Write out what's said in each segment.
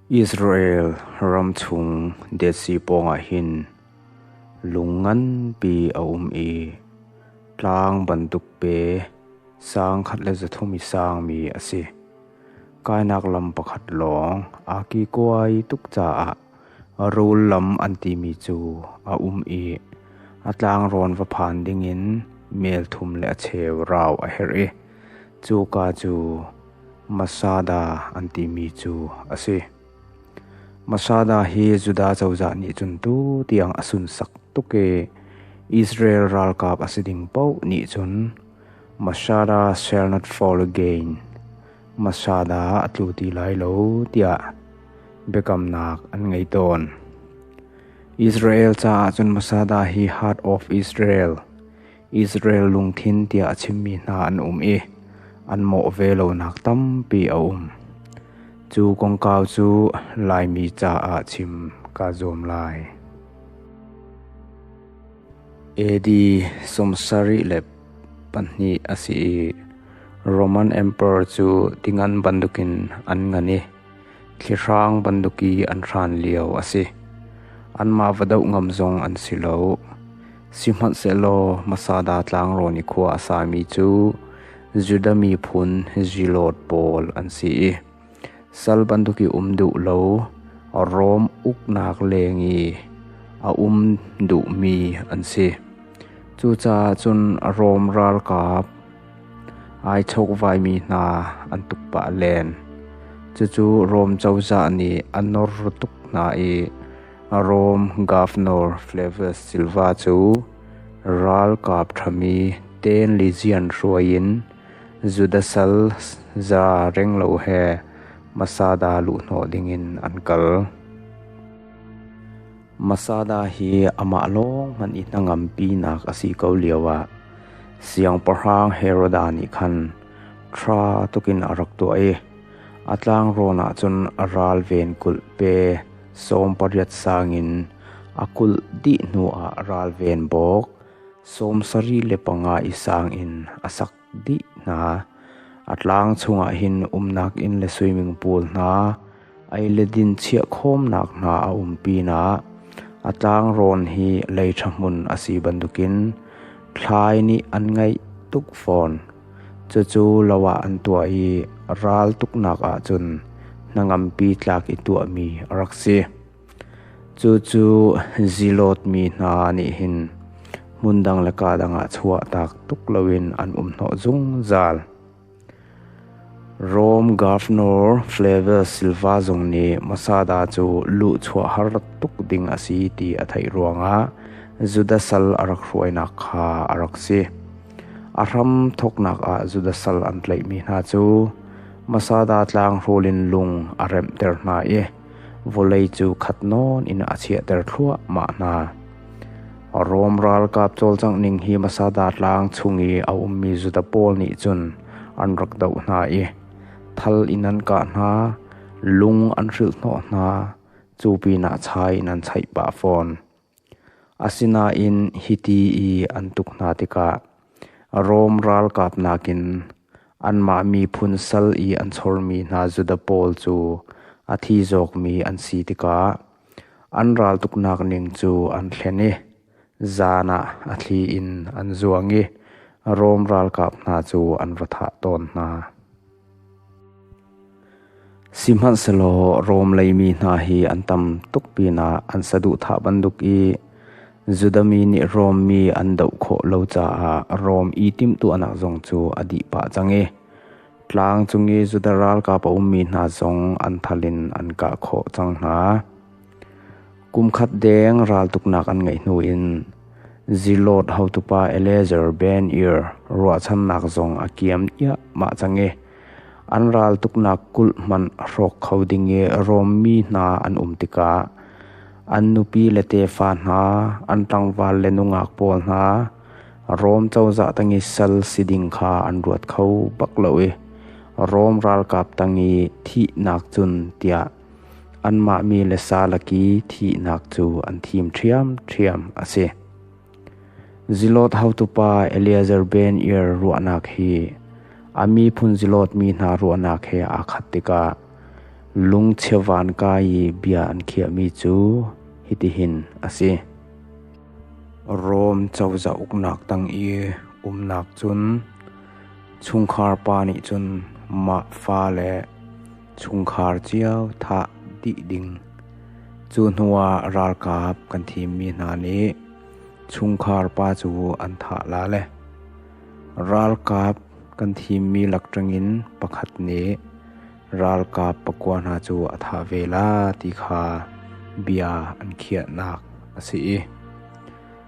Israel ram chung Dead Sea pawngah hin lung nganpi a um i tlang bantuk pe sang khat le zathum i sangmi a si. Kainak lam pakhat lawng aa kikuai tuk caah Rul lam an timi cu a um i a tlangrawn va phan dingin melthum le a cheu rau a herh i cuka cu Masada an timi cu a si. Masada hi Judah cozah nih cun tu tiang a sunsak tuk i Israel ralkap a si ding paoh nih cun Masada shall not fall again, Masada a tlu ti lai lo, tiah biakamnak an ngei tawn. Israel caah cun Masada hi Heart of Israel, Israel lungthin tiah a chimmi hna an um i an mawh ve lonak tampi a um. Cu kongkau cu Laimi caah chim ka zuam lai. AD sumsari le pahnih a si i Roman Emperor cu tingan bantukin an ngani. Thlihrang bantuk i an hran lio a si. Anmah va doh ngam zong an si lo. Sihmanhsehlaw Masada tlangrawn i khua a sami cu Judah miphun Zilot pawl an si i sal bantuk i um duh lo Rom uknak leng i a um duhmi an si. Cucaah cun Rom ralkap, Ai chawkvaimi hna an tuk pah len. Cucu Rom cozah nih a nawr tuk hna i Rom Governor Flavius Silva cu ralkap ṭhami Tenlysian hruai in Judasal za renglo he Masada luhhnawh dingin an kal. Masada hi amah lawng hmanh i hnangampinak a si ko lioah Siangpahrang Heroda nih khan ṭha tukin a rak tuah i a tlangrawn ahcun a ralven kulh pe sawm pariat sang in a kulh dih hnuah ralven bawk sawm sari le panga i sang in a sak. dih hna. A tlang chungah hin umnak inn le swimming pool hna, ei le din chiah khawmnak hna a um pinah a tlangrawn hi lei ṭhahmun a si bantukin thlai nih an ngeih tuk fawn. Cucu lo ah an tuah i ral tuknak ahcun hnangampi tlak i tuahmi a rak si. Cucu Zilot mi hna nih hin hmun dang le kaa dang ah chuahtak tuk loin an um hnawh zungzal. Rom Governor Flavius Silva zong nih Masada cu luhchuah har tuk ding a si ti a theih ruangah Judah sal a rak hruainak kha a rak si. A hram thawknak ah Judah sal an tlaihmi hna cu Masada tlang hrul in lung a remhter hna i Vawlei cu khat nawn in a chiahter thluahmah hna. Rom ralkap cawlcangh ning hi Masada tlang chung i a ummi Juda pawl nih cun an rak doh hna i thal in an kah hna, lung an hrilhhnawh hna, cu pinah chai in an chaih pah fawn. Asinain hiti i an tuk hna tikah Rom ralkap nakin anmah miphun sal i an chormi hna Juda pawl cu a thi zawkmi an si tikah an raltuknak ning cu an hlen i zan ah a thli in an zuang i Rom ralkap hna cu an ra thah tawn hna. Sihmanhsehlaw Rom leimi hna hi an tam tuk pinah an saduhthah bantuk i Judah mi nih Rom mi an doh khawh lo caah Rom i timhtuahnak zong cu a dih pah cang i tlang cung i Judah ralkap a ummi hna zong an thal in an kah khawh cang hna. Kumkhat deng raltuknak an ngeih hnu in Zilawt hotupa Eleazar Ben-Ir ruahchannak zong a kiam iahmah cang i an raltuknak kulh hmanh hrawk kho ding i Rom mi hna an um tikah an nupi le tefa hna, an tlangval le nungak pawl hna Rom cozah tang i sal si ding kha an ruat kho bak lo i Rom ralkap tang i thihnak cun tiah Anmah mi le salaki thihnak cu an thim ṭhiamṭhiam a si. Zilot hotupa Eleazar ben-Ir ruahnak hi a miphun zilot mi hna ruahnak he aa khat tikah lungchia van ka i bia an khiahmi cu hitihin a si: Rom cozah uknak tang i umnak cun chungkhar pa nih cun mah fa le Chungkhar cio thah dih ding. Cu hnuah ralkap kan thimmi hna nih chungkhar pa cu an thah lale. Ralkap kan thimmi lak ṭangin pakhat nih ralkap pakua hna cu a thah ve la ti kha bia an khiahnak a si i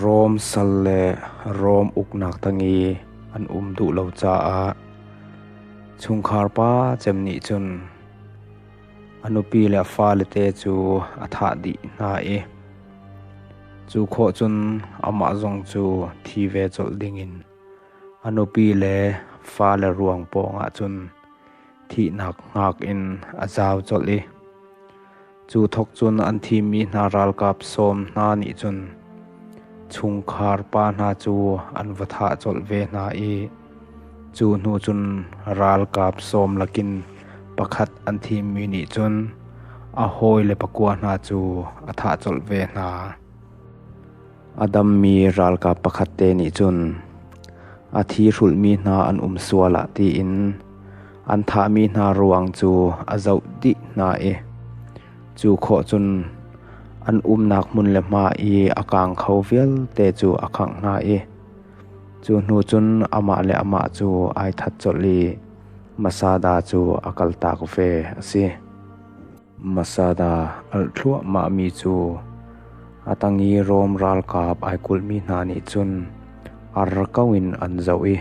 Rom sal le Rom uknak tang i an um duh lo caah chungkhar pa cem nih cun a nupi le a falete cu a thah dih hna i cu khawh cun amah zong cu thi ve colh dingin a nupi le fale ruang pawngah cun thihnak hngak in a zau colh i Cu thawk cun an thimi hna ralkap sawm hna nih cun chungkhar pa hna cu an va thah colh ve hna i cu hnu cun ralkap sawm lakin pakhat an thimi nih cun a hawi le pakua hna cu a thah colh ve hna. A dammi ralkap pakhat te nih cun a thi hrulhmi hna an um sual ah tiin an thahmi hna ruang cu a zoh dih hna i cu khawh cun an umnak hmun le hma i a kaang kho vialte cu a khangh hna i cu hnu cun amah le amah cu ai that colh i masada cu a kaltak ve a si. Masada alh thluahmahmi cu a tang i Rom ralkap ai kulhmi hna nih cun ar ko in an zoh i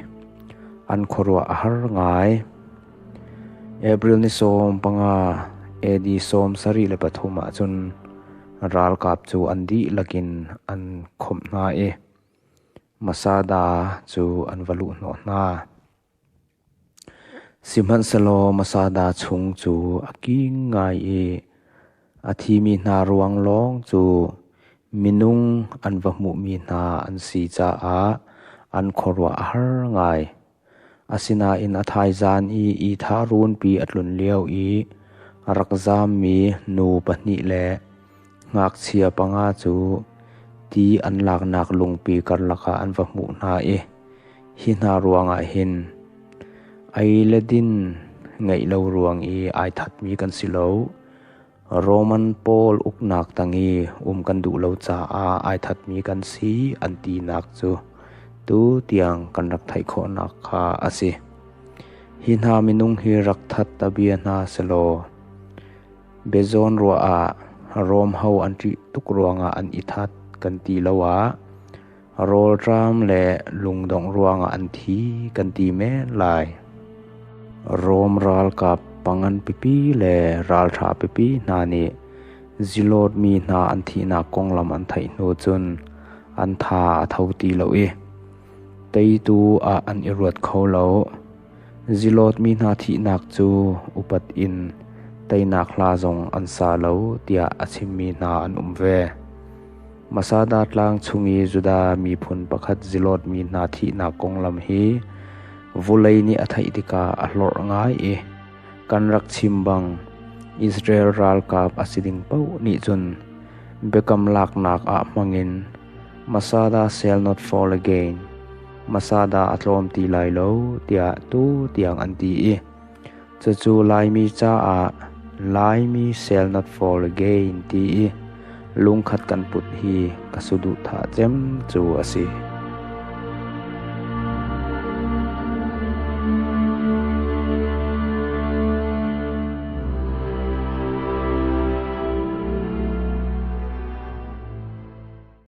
an khuaruah a har ngai. April ni sawm panga, AD sawm sarih le pathum ah cun ralkap cu an dihlak in an khawmh hna i Masada cu an va luh hnawh hna. Sihmanhsehlaw masada chung cu a king ngai i a thimi hna ruang lawng cu minung an va hmuhmi hna an si caah an khuaruah a har ngai. Asinain a thaizan i ithah runpi a tlun lio i a rak zammi nu pahnih le Ngakchia panga cu ti an laknak lungpi karlak ah an va hmuh hna i hi hna ruangah hin ei le din ngeih lo ruang i ai thatmi kan si lo. Roman pawl uknak tang i um kan duh lo caah ai thatmi kan si an tinak cu tu tiang kan rak theih khawhnak kha a si. Hi hna minung hi rak that a bia hna selaw, Biazawn ruah ah Rom ho an ṭih tuk ruangah an i that kan ti lo ah rawlṭam le lungdongh ruangah an thi kan ti men lai. Rom ralkap pangan pipi le ralṭha pipi hna nih zilawt mi hna an thihnak konglam an theih hnu cun an tha a tho ti lo i teitu ah an i ruat kho lo. Zilawt mi hna thihnak cu upat in teinak hla zong an sa lo tiah a chimmi hna an um ve. Masada tlang chung i Judah miphun pakhat zilawt mi hna thihnak konglam hi vulei nih a theih tikah a hlorh ngai i kan rak chim bang Israel ralkap a si ding paoh nih cun biakam laknak ah hmangin Masada shall not fall again. hmasa dah a tlawm ti lai lo tiah tu tiang an ti i cucu Laimi caah Laimi shall not fall again ti i lungkhat kan put hi ka suduhthah cem cu a si.